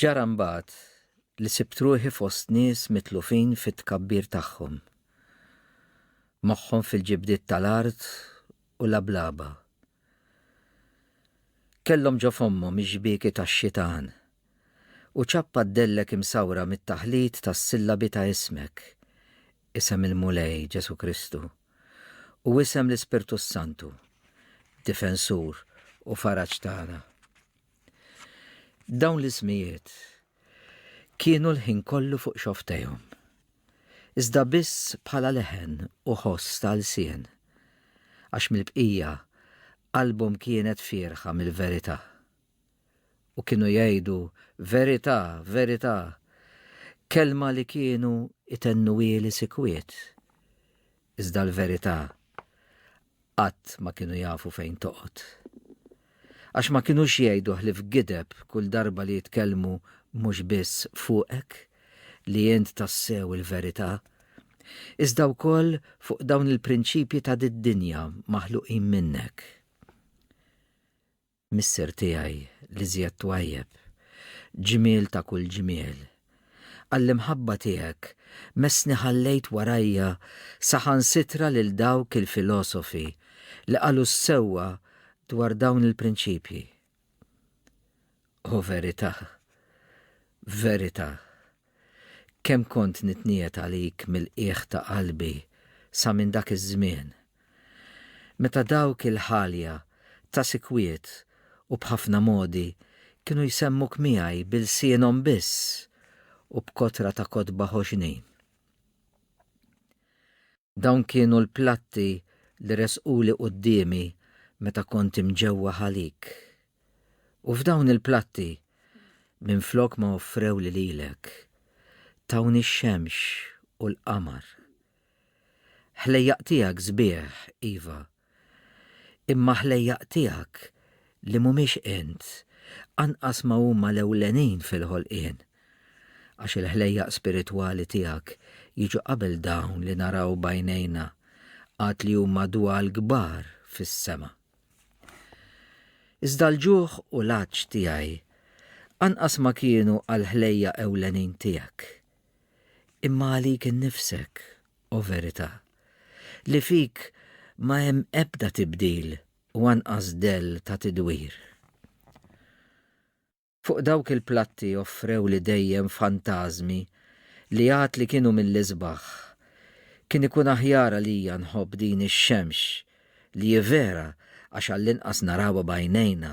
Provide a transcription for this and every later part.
Ġara mbagħad li sibt ruħi fost nies mitlufin fit-tkabbir tagħhom. Moħħhom fil-ġibdiet tal-art u lablaba. Kellhom ġo fommhom ix-xbieki tax-xitan u ċappa d-dellek imsawra mit-taħlit tas-sillabi ta' ismek, isem il-Mulej, Ġesù Kristu, u isem l-Ispirtu s-Santu, Difensur u Faraġ tagħna. Dawn l-ismijiet kienu l-ħin kollu fuq xofftejhom. Iżda biss bħala leħen u ħoss ta' lsien, għax mill-bqija qalbhom kienet fierħa mill-verità. U kienu jgħidu, Verità, verità, kelma li kienu jtennuhieli sikwiet. Iżda l-verità qatt ma kienu jafu fejn toqgħod. Għax ma kinux jgħidu ħlief gideb kull darba li jitkellmu mhux biss fuqek, li int tassew il-verità, iżda wkoll fuq dawn il-prinċipji ta' did-dinja maħluqin minnek. Missier tiegħi l-iżjed twajjeb, ġmiel ta' kull ġmiel. Għall-imħabba tiegħek messni ħallejt warajja saħansitra lil dawk il-filosofi li qalu s-sewwa dwar dawn il-prinċipji. O verità, verità! Kemm kont nitniegħed għalik mill-qiegħ ta' qalbi sa minn dak iż-żmien, meta dawk il-ħalja ta' sikwiet u b'ħafna modi kienu jsemmuk miegħi b'ilsienhom biss u b'kotra ta' kotba ħoxnin. Dawn kienu l-platti li resquli quddiemi meta kont imġewwa ħalik. U f'dawn il-platti, minflok ma offrewli lilek, tawni x-xemx u l-qamar. Ħlejjaq tiegħek sbieħ, iva, Imma ħlejjaq tiegħek li mhumiex int anqas ma huma l-ewlenin fil-ħolqien, għax il-ħlejjaq spiritwali tiegħek jiġu qabel dawn li naraw b'għajnejna għad li huma dwal kbar fis-sema. Iżda l-ġuħ u l-għatx tiegħi anqas ma kienu għall-ħlejjaq ewlenin tiegħek, imma għalik innifsek o verità, li fik ma hemm ebda tibdil u anqas dell ta' tidwir. Fuq dawk il-platti offrewli dejjem fantażmi li għad li kienu mill-isbaħ. Kien ikun aħjar għalija nħobb din ix-xemx, li hi vera għax għall-inqas narawha b'għajnejna,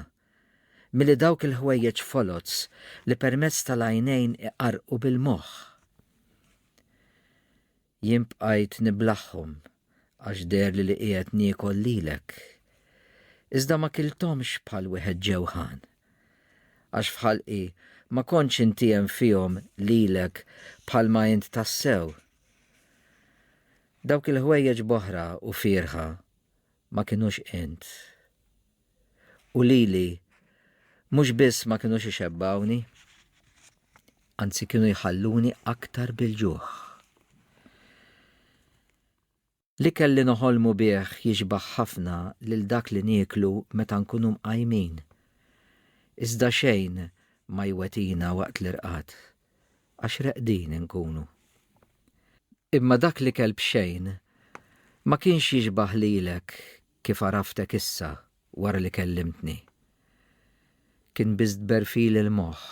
milli dawk il-ħwejjeġ foloz li permezz tal-għajnejn iqarrqu bil-moħħ. Jien bqajt niblaghom għax deherli li qiegħed niekol lilek. Iżda ma kilthomx bħal wieħed ġewgħan. Għax f'ħalqi ma kontx intiehem fihom lilek bħalma int tassew. Dawk il-ħwejjeġ bohra u fierħa ma kinux int. u lili mhux biss ma kinux ixebbgħuni, anzi kienu jħalluni aktar bil-ġuħ. L-ikel li noħolmu bih jixbah ħafna lil dak li nieklu meta nkunu mqajmin, iżda xejn ma jwetina waqt l-irqad, għax reqdin inkunu. Imma dak l-ikel b'xejn ma kienx jixbah lilek kif għaraftek issa wara li kellimtni. Kien biss tberfil il-moħħ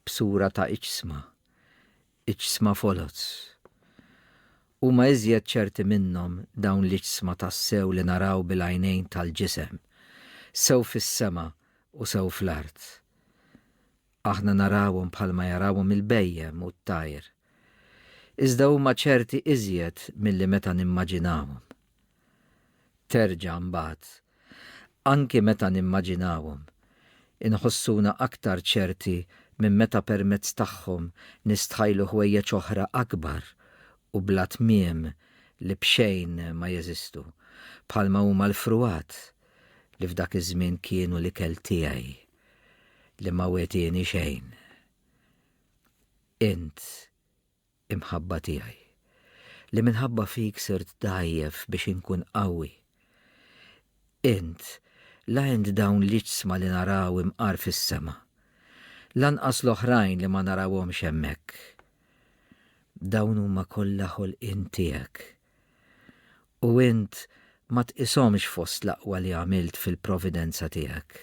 b'sura ta' iġsma, iġsma foloz. Huma iżjed ċerti minnhom dawn l-iġsma tassew li naraw bil-għajnejn tal-ġisem, sew fis-sema u sew fl-art. Aħna narawhom bħalma jarawhom il-bhejjem u t-tajr. Iżda huma ċerti iżjed milli meta nimmaġinawhom. Terġa' mbagħad, anki meta nimmaġinawhom, inħossuna aktar ċerti minn meta permezz tagħhom nistħajlu ħwejjeġ oħra akbar u bla tmiem li b'xejn ma jeżistu, bħalma huma l-fruwat, li f'dak iż-żmien kienu l-ikel tiegħi. li ma wetieni xejn. Int, imħabba tiegħi, li minħabba fik sirt dgħajjef biex inkun qawwi. Int, la int dawn l-iġsma li naraw imqar fis-sema, lanqas l-oħrajn li ma narawhomx hemmhekk. Dawn huma kollha ħolqien tiegħek. U int ma tqishomx fost l-aqwa li għamilt fil-providenza tiegħek.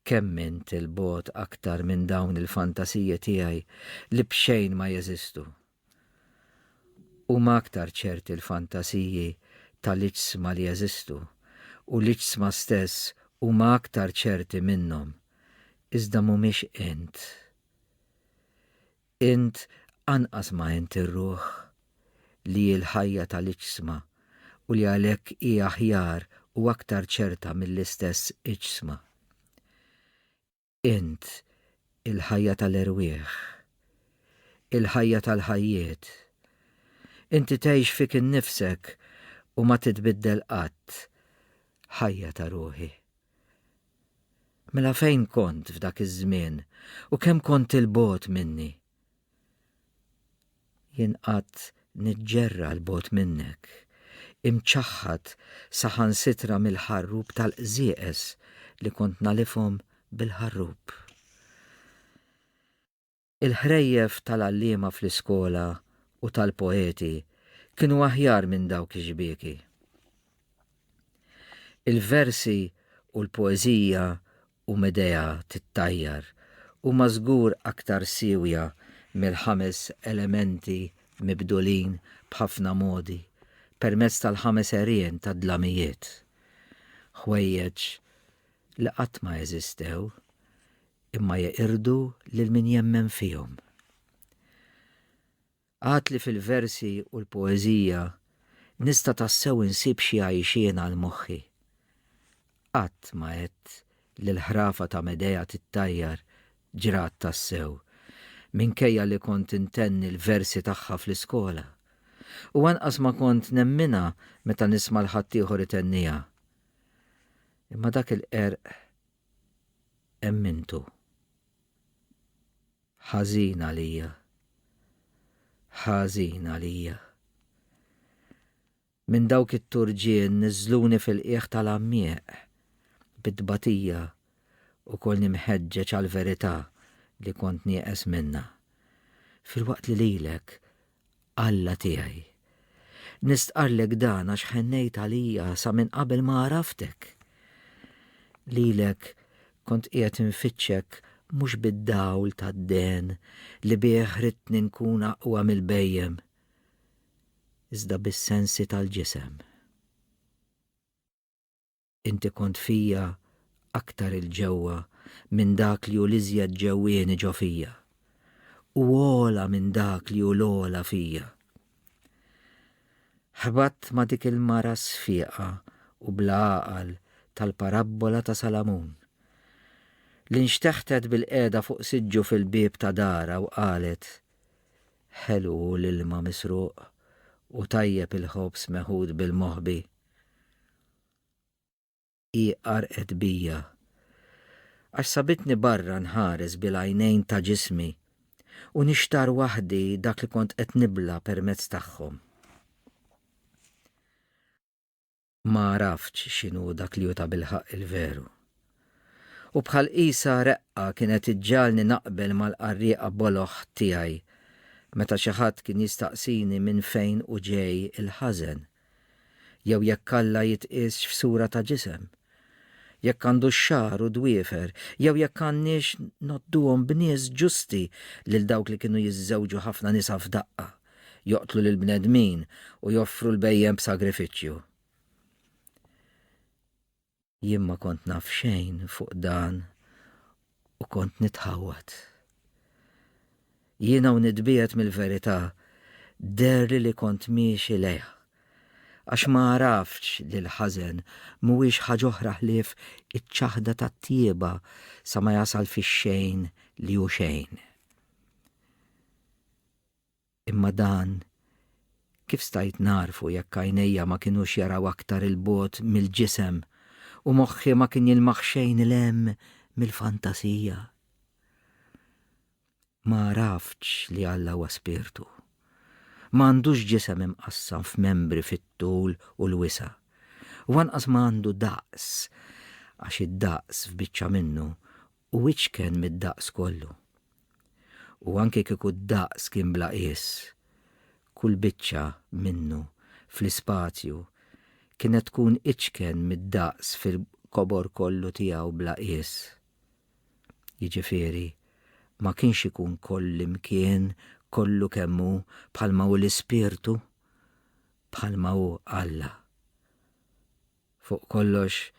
Kemm int 'il bogħod aktar minn dawn il-fantasiji tiegħi li b'xejn ma jeżistu! Huma aktar ċerti l-fantasiji ta' l-iġsma li jeżistu, u l-iġsma stess huma aktar ċerti minnhom, iżda mhumiex int. Int anqas ma int ir-ruħ, li hi l-ħajja tal-iġsma u li għalhekk hi aħjar u aktar ċerta mill-istess iġsma. Int, il-ħajja tal-erwieħ. Il-ħajja tal-ħajjiet. Inti tgħix fik innifsek u ma titbiddel qatt, ħajja ta' ruħi. Mela fejn kont f'dak iż-żmien u kemm kont 'il bogħod minni? Jien qgħadt niġġerra 'l bogħod minnek, imċaħħad saħansitra mill-ħarrub tal-qżieqeż li kont nagħlifhom bil-ħarrub. Il-ħrejjef tal-għalliema fl-iskola u tal-poeti kienu aħjar minn dawk ix-xbieki. Il-versi u l-poeżija u Medea tittajjar huma żgur aktar siewja mill-ħames elementi mibdulin b'ħafna modi permezz tal-ħames għerien tad-dlamijiet. Ħwejjeġ li qatt ma eżistew, imma jeqirdu lil min jemmen fihom. Għad li fil-versi u l-poeżija nista' tassew insib xi għajxien għal moħħi. Qatt ma għedt li l-ħrafa ta' Medea tittajjar ġrat tassew, minkejja li kont intenni l-versi tagħha fl-iskola. U anqas ma kont nemminha meta nisma' 'l ħaddieħor itenniha. Imma dak il-qerq Hemm intu. Ħażin għalija. Ħażin għalija. Minn dawk it-turġien niżżluni fil-qiegħ tal-għammieq. Bi tbatija u kolni mħeġġeġ għall-verità li kont nieqes minnha. Filwaqt li lilek Alla tiegħi, nistqarrlek dan għax ħennejt għalija sa minn qabel ma għaraftek. Lilek kont qiegħed infittxek mhux bid-dawl tad-dehen li bih ridtni nkun aqwa mill-bhejjem, iżda bis-sensi tal-ġisem. Inti kont fija aktar 'il ġewwa minn dak li hu l-iżjed ġewwieni ġo fija, u ogħla minn dak li hu l-ogħla fija. Ħbatt ma' dik il-mara sfieqa u bla għaqal tal-parabbola ta' Salamun, li nxteħtet bilqiegħda fuq siġġu fil-bieb ta' darha u qalet, Ħelu hu l-ilma misruq u tajjeb il-ħobż meħud bil-moħbi. Hi qarqet bija. Għax sabitni barra nħares bil-għajnejn ta' ġismi u nixtarr waħdi dak li kont qed nibla' permezz tagħhom. Ma għaraftx x'inhu dak li hu tabilħaqq il-veru. U bħal qisha reqqa kienet iġġagħalni naqbel mal-qarrieqa boloh tiegħi meta xi ħadd kien jistaqsini minn fejn hu ġej il-ħażen. jew jekk Alla jitqiesx f'sura ta' ġisem, jekk għandu x-xagħar u d-dwiefer, jew jekk għandniex ngħodduhom b'nies ġusti lil dawk li kienu jiżżewġu ħafna nisa f'daqqa, joqtlu lill-bnedmin u joffru l-bhejjem b'sagrifiċċju. Jien ma kont naf xejn fuq dan u kont nitħawwad. Jiena u nitbiegħed mill-verità deherli li kont miexi lejha, għax ma għaraftx li l-ħażen mhuwiex ħaġ'oħra ħlief iċ-ċaħda tat-tjieba sa ma jasal fix-xejn li hu xejn. Imma dan, kif stajt nagħrfu jekk għajnejja ma kinux jaraw aktar 'il bogħod mill-ġisem u moħħi ma kien jilmaħ xejn 'il hemm mill-fantasija? Ma għaraftx li Alla huwa Spirtu. Ma għandux ġisem imqassam f'membri fit-tul u l-wisa', u anqas ma għandu daqs, għax id-daqs f'biċċa minnu u iċken mid-daqs kollu. U anki kieku d-daqs kien bla qies, kull biċċa minnu fl-ispazju kienet tkun iċken mid-daqs fil-kobor kollu tiegħu bla qies. Jiġifieri, ma kienx ikun kollimkien kollu kemm hu bħalma hu l-Ispirtu, bħalma hu Alla. Fuq kollox,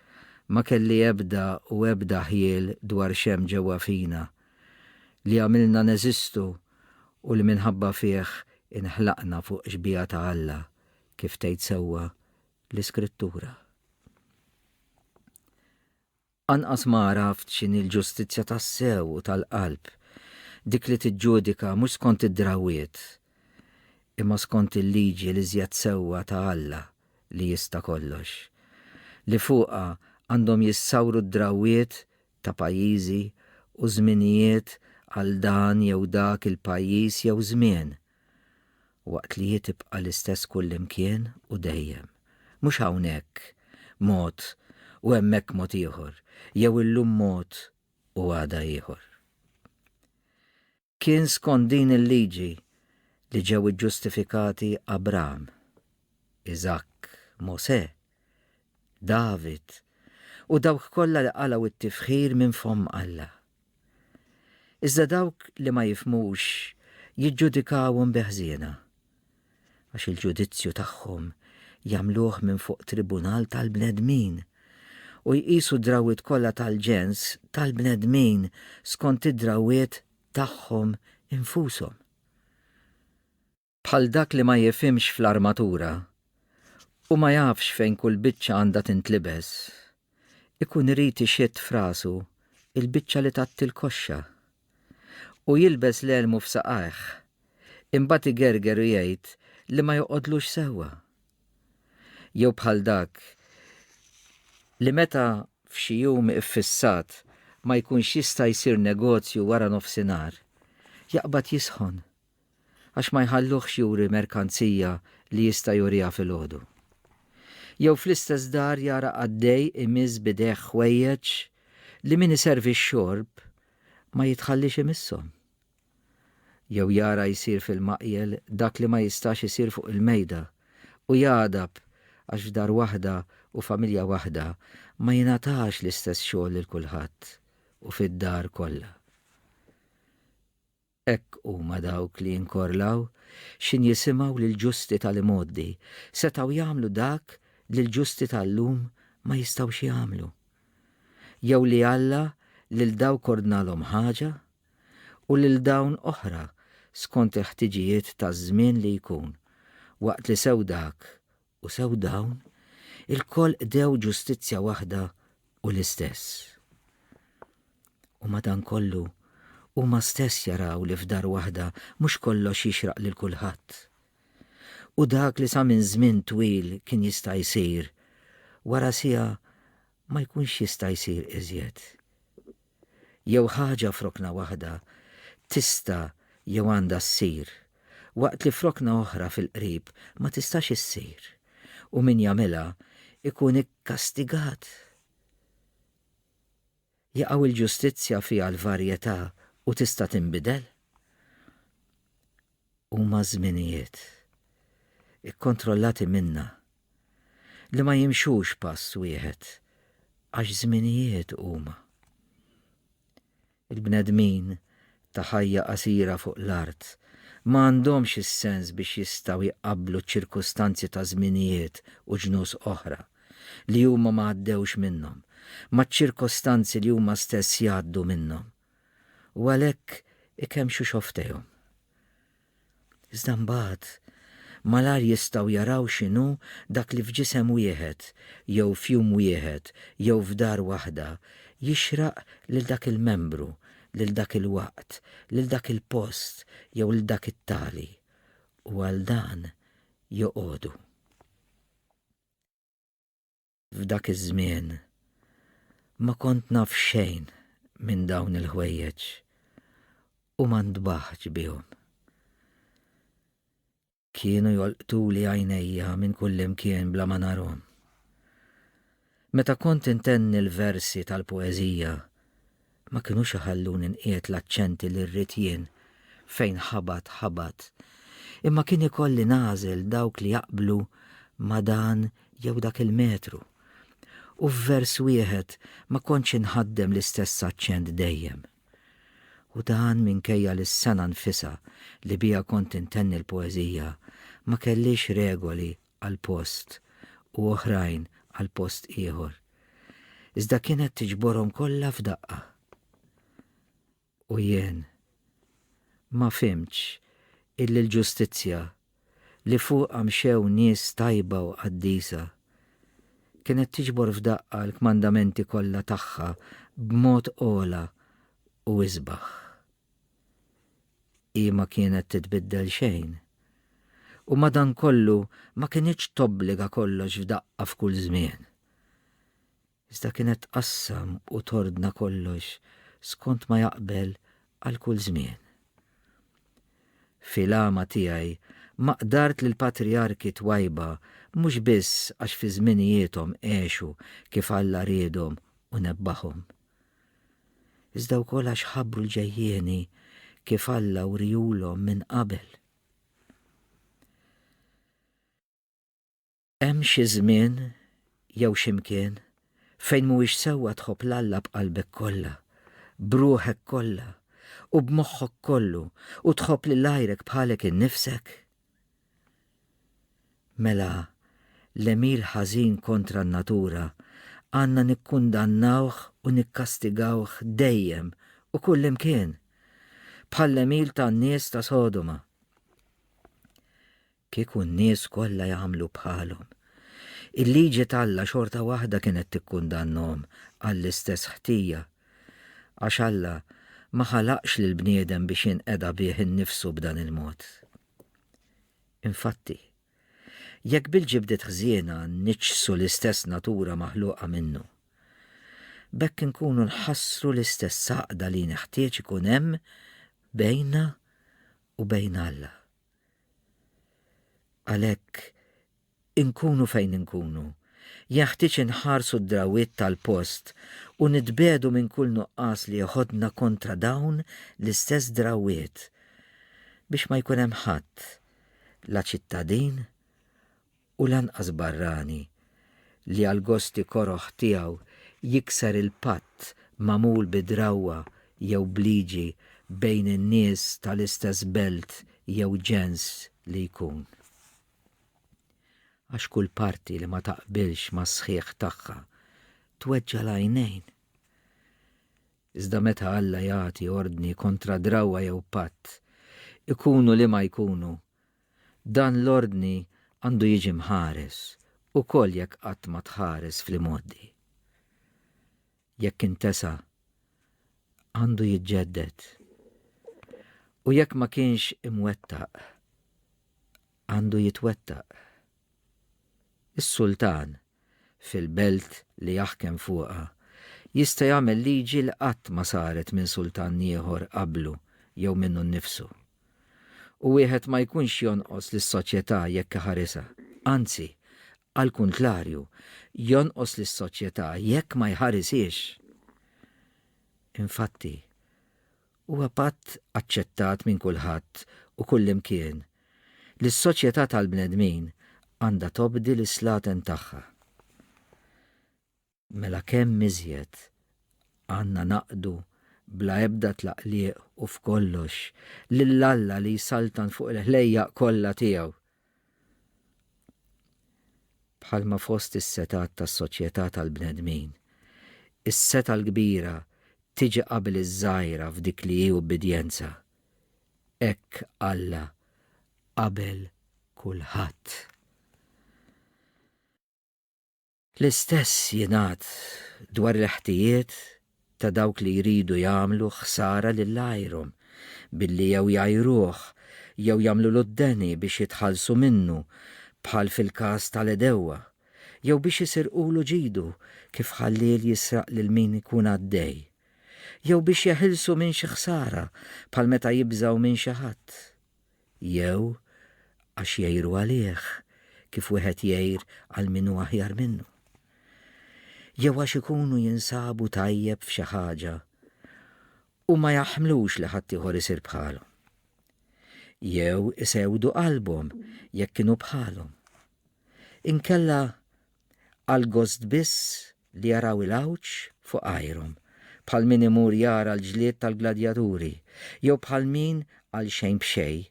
ma kelli ebda u ebda ħjiel dwar x'hemm ġewwa fina, li għamilna neżistu u li minħabba fih inħlaqna fuq xbieha ta' Alla, kif tgħid sewwa l-Iskrittura. Anqas ma għaraft x'inhi l-ġustizzja tassew u tal-qalb, dik li tiġġudika mhux skont id-drawwiet, imma skont il-liġi l-iżjed sewwa ta' Alla li jista' kollox, li fuqha għandhom jissawru d-drawwiet ta' pajjiżi u żminijiet għal dan jew dak il-pajjiż jew żmien. Waqt li hi tibqa' l-istess kullimkien u dejjem. Mhux hawnhekk mod u hemmhekk mod ieħor, jew illum mod u għada ieħor. Kien skont din il-liġi li ġew iġġustifikati Abram, Iżakk, Mosè, David u dawk kollha li qalgħu t-tifħir minn fomm Alla. Iżda dawk li ma jifhmux jiġġudikawhom bi ħżiena, għax il-ġudizzju tagħhom jagħmluh minn fuq tribunal tal-bnedmin, u jqisu d-drawwiet kollha tal-ġens tal-bnedmin skont id-drawwiet tagħhom infushom. bħal dak li ma jifhimx fl-armatura u ma jafx fejn kull biċċa għandha tintlibes, ikun irid ixidd f'rasu l-biċċa li tgħatti l-koxxa, u jilbes l-elmu f'saqajh, imbagħad igerger u jgħid li ma joqgħodlux sewwa. Jew bħal dak li meta f'xi jum iffissat ma jkunx jista' jsir negozju wara nofsinhar, jaqbad jisħon għax ma jħalluhx juri merkanzija li jista' juriha filgħodu. Jew fl-istess dar jara qaddej imiss b'idejh ħwejjeġ li min iservi x-xorb ma jitħalliex imishom. Jew jara jsir fil-maqjel dak li ma jistax isir fuq il-mejda u jagħdab għax f'dar waħda u familja waħda ma jingħatax l-istess xogħol lil kulħadd u fid-dar kollha. Hekk huma dawk li jinkorlaw, x'in jisimgħu lill-ġusti tal-imgħoddi, setgħu jagħmlu dak li l-ġusti tal-lum ma jistgħux jagħmlu? Jew li Alla lil dawk ordnalhom ħaġa, u lil dawn oħra skont il-ħtiġijiet taż-żmien li jkun, waqt li sew dak u sew dawn ilkoll qdew ġustizzja waħda u l-istess. U madankollu, huma stess jaraw li f'dar waħda mhux kollox jixraq lil kulħadd. U dak li sa minn żmien twil kien jista' jsir, wara siegħa ma jkunx jista' jsir iżjed. Jew ħaġa f'rokna waħda tista' jew għandha ssir, waqt li f'rokna oħra fil-qrib ma tistax issir, u min jagħmilha jkun ikkastigat. Jaqaw il-ġustizzja fiha l-varjetà u tista' tinbidel? Huma żminijiet, ikkontrollati minna, li ma jimxux pass wieħed, għax żminijiet huma. Il-bnedmin ta' ħajja qasira fuq l-art ma għandhomx is-sens biex jistgħu jqabblu ċ-ċirkustanzi ta' żminijiet u ġnus oħra, li huma ma għaddewx minnhom, maċ-ċirkostanzi li huma stess jgħaddu minnhom. u għalhekk ikemmxu xofftejhom. Iżda mbagħad malajr jistgħu jaraw x'inhu dak li f'ġisem wieħed jew f'jum wieħed jew f'dar waħda jixraq lil dak il-membru, lil dak il-waqt, lil dak il-post jew lil dak it-tali, u għal dan joqogħdu. F'dak iż-żmien ma kont naf xejn minn dawn il-ħwejjeġ u ma ntbaħtx bihom. Kienu jolqtuli għajnejja minn kullimkien bla ma narhom. Meta kont intenni l-versi tal-poeżija, ma kinux iħalluni nqiegħed l-aċċenti li rrid jien, fejn ħabat ħabat, imma kien ikolli nagħżel dawk li jaqblu ma' dan jew dak il-metru. U f'vers wieħed ma kontx inħaddem l-istess aċċent dejjem. U dan minkejja li s-sengħa nfisha li biha kont intenni l-poeżija ma kellhiex regoli għal post u oħrajn għal post ieħor, iżda kienet tiġborhom kollha f'daqqa. U jien ma fimtx illi l-ġustizzja li fuqha mxew nies tajba u qaddisa kienet tiġbor f'daqqa l-kmandamenti kollha tagħha b'mod ogħla u isbaħ. Hi ma kienet titbiddel xejn. U madankollu ma kinitx tobbliga kollox f'daqqa f'kull żmien. Iżda kienet tqassam u tordna kollox skont ma jaqbel għal kull żmien. Fil-għama tiegħi ma qdart li l-patrijarki twajba mhux biss għax fi żminijiethom għexu kif Alla riedhom u nebbahom, iżda wkoll għax ħabru l-ġejjieni kif Alla wriehulhom minn qabel. Hemm xi żmien jew xi mkien fejn mhuwiex sewwa tħobb l-Alla b'qalbek kollha, b'ruħek kollha, u b'moħħok kollu, u tħobb lil għajrek bħalek innifsek? Mela, l-għemil ħażin kontra n-natura għandna nikkundannawh u nikkastigawh dejjem u kullimkien, bħall-għemil tan-nies ta' Sodoma. Kieku n-nies kollha jagħmlu bħalhom, il-liġi t'Alla xorta waħda kienet tikkundannahom għall-istess ħtija Għax Alla ma ħalaqx lill-bniedem biex jinqeda bih innifsu b'dan il-mod. Infatti, jekk bil-ġibdiet ħżiena niġġsu l-istess natura maħluqa minnu, b'hekk inkunu nħassru l-istess għaqda li neħtieġ ikun hemm bejnna u bejn Alla. Għalhekk Inkunu fejn inkunu, jenħtieġ inħarsu d-drawwiet tal-post u nitbiegħdu minn kull nuqqas li jeħodna kontra dawn l-istess drawwiet biex ma jkun hemm ħadd, la ċittadin u lanqas barrani, li għall-gosti koroh tiegħu jikser il-patt magħmul bi drawwa jew b'liġi bejn in-nies tal-istess belt jew ġens li jkun. Għax kull parti li ma taqbilx mas-sħiħ tagħha tweġġa' l-għajnejn. Iżda meta Alla jagħti ordni kontra drawwa jew patt, ikunu liema jkunu, dan l-ordni għandu jiġi mħares ukoll jekk qatt ma tħares fl-imgħoddi. jekk intesa, għandu jiġġedded, u jekk ma kienx imwettaq, għandu jitwettaq. Is-sultan, fil-belt li jaħkem fuqha, jista' jagħmel liġi li qatt ma saret minn sultan ieħor qablu jew minnu nnifsu. U wieħed ma jkunx jonqos lis-soċjetà jekk iħarisha, anzi, Għall-kuntlarju, jonqos lis-soċjetà jekk ma jħarishiex. Infatti, huwa patt aċċettat minn kulħadd u kullimkien li s-soċjetà tal-bnedmin għandha tobdi l-islaten tagħha. mela kemm iżjed għandna naqdu bla ebda tlaqliq u f'kollox lil Alla li jsaltan fuq il-ħlejjaq kollha tiegħu. Bħalma fost is-setgħat tas-soċjetà tal-bnedmin, is-setgħa l-kbira tiġi qabel iż-żgħira f'dik li hi ubbidjenza, hekk Alla qabel kulħadd. L-istess jingħad dwar il-ħtijiet ta' dawk li jridu jagħmlu ħsara lil għajrhom billi jew jgħajruh jew jagħmlulu d-deni biex jitħallsu minnu, bħal fil-każ tal-għedewwa, jew biex isirqulu ġidu, kif ħalliel jisraq lil min ikun għaddej, jew biex jeħilsu minn xi ħsara, bħal meta jibżgħu minn xi ħadd. Jew għax jgħiru għalih kif wieħed jgħir għal min hu aħjar minnu. Jew għax ikunu jinsabu tajjeb f'xi ħaġa u ma jaħmlux li ħaddieħor isir bħalhom. Jew isewdu qalbhom jekk kienu bħalhom. Inkella għal gost biss li jaraw il-għawġ fuq għajrhom, bħal min imur jara l-ġlied tal-gladjaturi, jew bħal min, għalxejn b'xejn,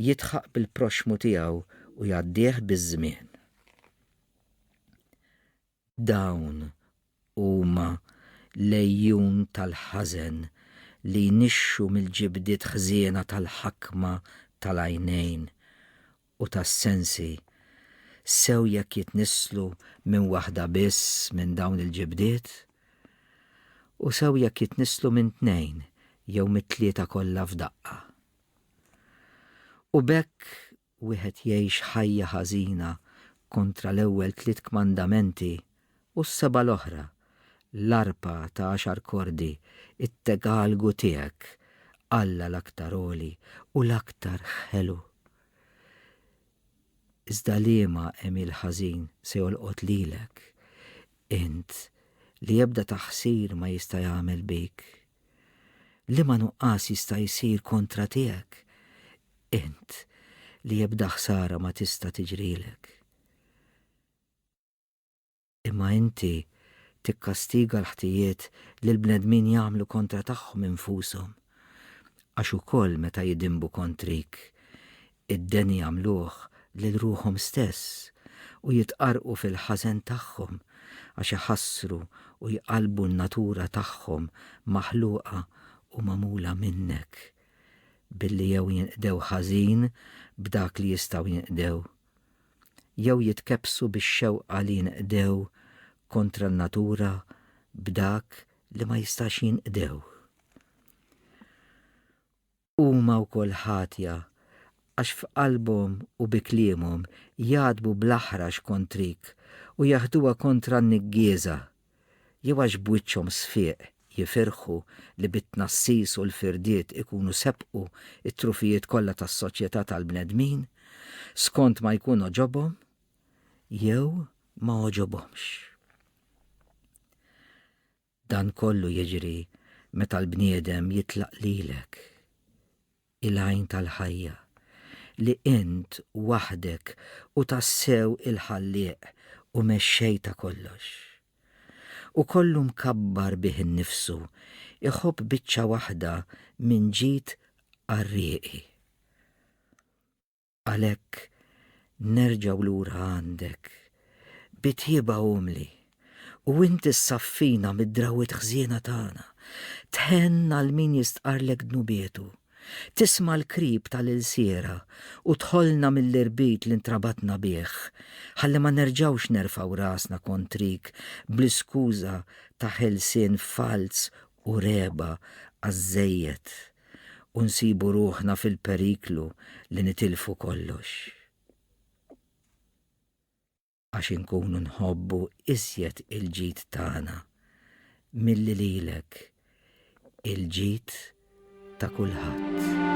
jidħaq bil-proxxmu tiegħu u jgħaddih biż-żmien. Dawn huma l-għejjun tal-ħażen li jnixxu mill-ġibdiet ħżiena tal-ħakma tal-għajnejn u tas-sensi, sew jekk jitnisslu minn waħda biss minn dawn il-ġibdiet, u sew jekk jitnisslu minn tnejn jew mit-tlieta kollha f'daqqa. U b'hekk wieħed jgħix ħajja ħażina kontra l-ewwel tliet kmandamenti u s-seba' l-oħra, l-arpa ta' għaxar kordi, it-tegalgu tiegħek, Alla l-Aktar Għoli u l-Aktar Ħelu. Iżda liema għemil ħażin se jolqot lilek, int li ebda taħsir ma jista' jagħmel bik? Liema nuqqas jista' jsir kontra tiegħek, int li ebda ħsara ma tista' tiġrilek? Imma inti tikkastiga l-ħtijiet li l-bnedmin jagħmlu kontra tagħhom infushom, għax ukoll meta jidinbu kontrik, id-deni jagħmluh lil ruħhom stess, u jitqarrqu fil-ħażen tagħhom, għax iħassru u jqallbu n-natura tagħhom maħluqa u magħmula minnek, billi jew jinqdew ħażin b'dak li jistgħu jinqdew, jew jitkebbsu bix-xewqa li jinqdew kontra n-natura b'dak li ma jistax jinqdew. Huma wkoll ħatja għax f'qalbhom u bi kliemhom jgħatbu bl-aħrax kontrik u jaħduha kontra n-niggieża jew għax b'wiċċhom sfieq jifirħu li bit-tnassis u l-firdiet ikunu sebqu t-trufijiet kollha tas-soċjetà tal-bnedmin, skont ma jkun għoġobhom jew ma għoġobhomx. Dan kollu jiġri meta l-bniedem jitlaq lilek. il-Għajn tal-Ħajja, li Int waħdek hu tassew il-Ħallieq u Mexxej ta' kollox. U kollu mkabbar bih innifsu, iħobb biċċa waħda minn ġid qarrieqi. Għalhekk nerġgħu lura għandek bi tjieba umli u int issaffina mid-drawwiet ħżiena tagħna, tħenn għal min jistqarrlek dnubietu, tisma' l-krib tal-ilsiera u tħollna mill-irbit li ntrabatna bih, ħalli ma nerġgħux nerfgħu rasna kontrik bl-iskuża ta' ħelsien falz u regħba għaż-żejjed. u nsibu ruħna fil-periklu li nitilfu kollox. Għax inkunu nħobbu iżjed il-ġid tagħna milli lilek il-ġid ta' kulħadd.